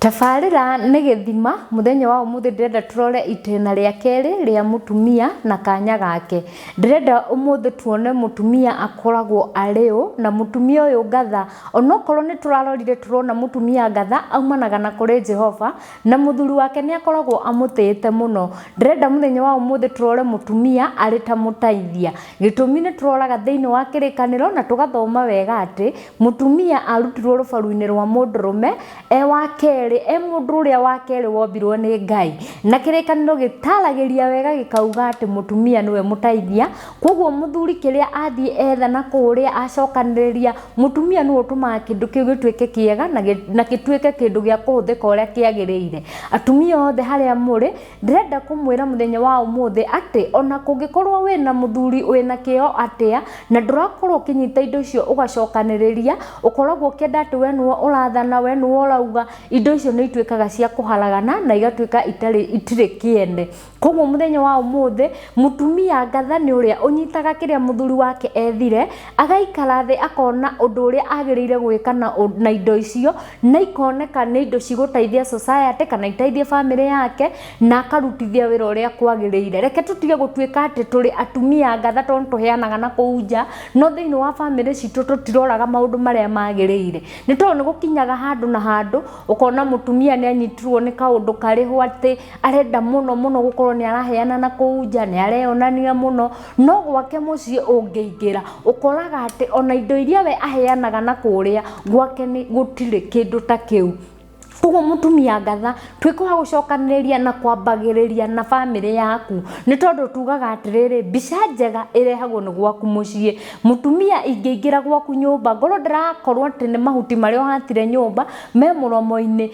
Tabarĩra nĩ gĩthima mũthenya wa ũmũthĩ ndĩrenda tũrore itĩna rĩa kerĩ rĩa mũtumia na kanya gake. Ndĩrenda ũmũthĩ tuone mũtumia akoragwo arĩ ũ na mũtumia ũyũ ngatha. Onokorwo nĩ tũrarorire tũrona mũtumia ngatha aumanaga na kũrĩ Jehova na mũthuri wake nĩ akoragwo amũtĩĩte mũno. Ndĩrenda mũthenya wa ũmũthĩ tũrore mũtumia arĩ ta mũtaithia. Gĩtũmi nĩ tũroraga thĩinĩ wa kĩrĩkanĩro na tũgathoma wega atĩ, Mũtumia arutirwo rũbaru-inĩ rwa mũndũrũme e wa kerĩ, e mũndũ ũrĩa wa kerĩ wombirwo nĩ Ngai. Na kĩrĩkanĩro gĩtaragĩria wega gĩkauga atĩ mũtumia nĩwe mũteithia, kwoguo mũthuri kĩrĩa athiĩ etha na kũrĩa acokanĩrĩria, mũtumia nĩwe ũtũmaga kĩndũ kĩu gĩtuĩke kĩega na gĩtuĩke kĩndũ gĩa kũhũthĩka ũrĩa kĩagĩrĩire. Atumia othe harĩa mũrĩ, Ndĩrenda kũmwĩra mũthenya wa ũmũthĩ atĩ ona kũngĩkorwo wĩ na mũthuri wĩ na kĩo atĩa na ndũrakorwo ũkĩnyita indo icio ũgacokanĩrĩria, ũkoragwo ũkĩenda atĩ we nĩwe ũrathana, we nĩwe ũrauga, indo icio nĩ ituĩkaga cia kũharagana na igatuĩka itarĩ itirĩ kĩene. Koguo mũthenya wa ũmũthĩ, mũtumia ngatha nĩ ũrĩa ũnyitaga kĩrĩa mũthuri wake ethire, agaikara thĩ akona ũndũ ũrĩa agĩrĩire gwĩka na na indo icio, na ikoneka nĩ indo cigũteithia society kana iteithie family yake na akarutithia wĩra ũrĩa kwagĩrĩire reke tũtige gũtuĩka atĩ tũrĩ atumia ngatha tondũ tũheanaga na kũu nja no thĩinĩ wa family citũ tũtiroraga maũndũ marĩa magĩrĩire nĩ tondũ nĩ gũkinyaga handũ na handũ ũkona mũtumia nĩ anyitirwo nĩ kaũndũ karĩho atĩ arenda mũno mũno gũkorwo nĩ araheana na kũu nja nĩ areyonania mũno no gwake mũciĩ ũngĩingĩra ũkoraga atĩ ona indo iria we aheanaga na kũrĩa gwake nĩ gũtirĩ kĩndũ ta kĩu koguo mũtumia ngatha twĩke wa gũcokanĩrĩria na kwambagĩrĩria na bamĩrĩ yaku nĩ tondũ tugaga atĩrĩrĩ mbica njega ĩrehagwo nĩ gwaku mũciĩ mũtumia ingĩingĩra gwaku nyũmba ngorwo ndĩrakorwo atĩ nĩ mahuti marĩa ũhatire nyũmba me mũromo-inĩ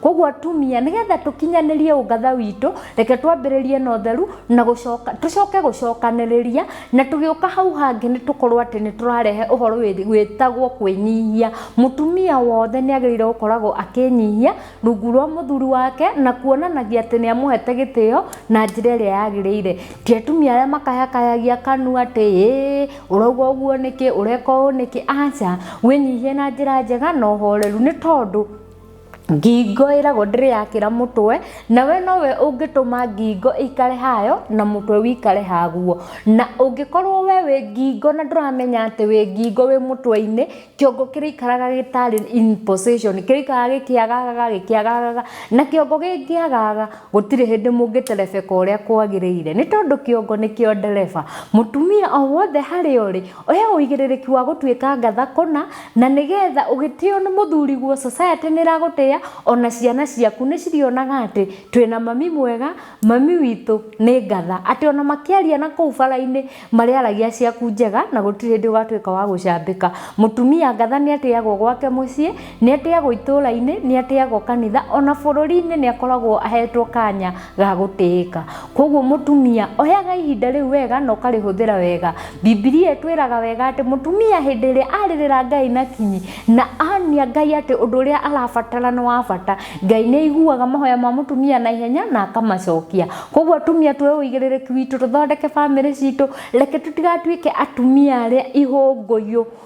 koguo atumia nigetha tukinyanirie ungatha witũ reke twambĩrĩrie na ũtheru na gũcoka tũcoke gũcokanĩrĩria na tũgĩũka hau hangĩ nĩ tũkorwo atĩ nĩ tũrarehe ũhoro wĩ- wĩtagwo kwĩnyihia mũtumia wothe nĩ agĩrĩire gũkoragwo akĩnyihia rungu rwa mũthuri wake na kuonanagia atĩ nĩ amũhete gĩtĩo na njĩra ĩrĩa yagĩrĩire ti atumia arĩa makayakayagia kanua atĩ ĩĩ ũrauga ũguo nĩkĩ ũreka ũũ nĩkĩ aca wĩnyihie na njĩra njega na ũhoreru nĩ tondũ ngingo ĩragwo ndĩrĩ yakĩra mũtwe na we nowe ũngĩtũma ngingo ĩikare hayo na mũtwe wĩikare haguo na ũngĩkorwo we wĩ ngingo na ndũramenya atĩ wĩ ngingo wĩ mũtwe-inĩ kĩongo kĩrĩikaraga gĩtarĩ in position kĩrĩikaraga gĩkĩagagaga gĩkĩagagaga na kĩongo gĩkĩagaga gũtirĩ hĩndĩ mũngĩterebeka ũrĩa kwagĩrĩire nĩ tondũ kĩongo nĩkĩo ndereba mũtumia o wothe harĩa ũrĩ Oya ũigĩrĩrĩki wa gũtuĩka ngatha kũna, na nĩ getha ũgĩtĩo nĩ mũthuriguo, society nĩ ĩragũtĩa, o na ciana ciaku nĩ cirĩonaga atĩ twĩ na mami mwega, mami witũ nĩ ngatha. Atĩ o na makĩaria na kũu bara-inĩ marĩaragia ciaku njega na gũtirĩ hĩndĩ ũgatuĩka wa gũcambĩka. Mũtumia ngatha nĩ atĩagwo gwake mũciĩ. Nĩ atĩagwo itũũra-inĩ, nĩ atĩagwo kanitha, ona bũrũri-inĩ nĩ akoragwo ahetwo kanya ga gũtĩĩka. Kwoguo mũtumia, oyaga ihinda rĩu wega na ũkarĩhũthĩra wega. Bibilia ĩtwĩraga wega atĩ mũtumia hĩndĩ ĩrĩa arĩrĩra Ngai na kinyi, na onia Ngai atĩ ũndũ ũrĩa arabatara nĩ wa bata, Ngai nĩ aiguaga mahoya ma mũtumia na ihenya na akamacokia. Kwoguo atumia tuoe ũigĩrĩrĩki witũ tũthondeke bamĩrĩ citũ, reke tũtigatuĩke atumia arĩa ihũngũyũ.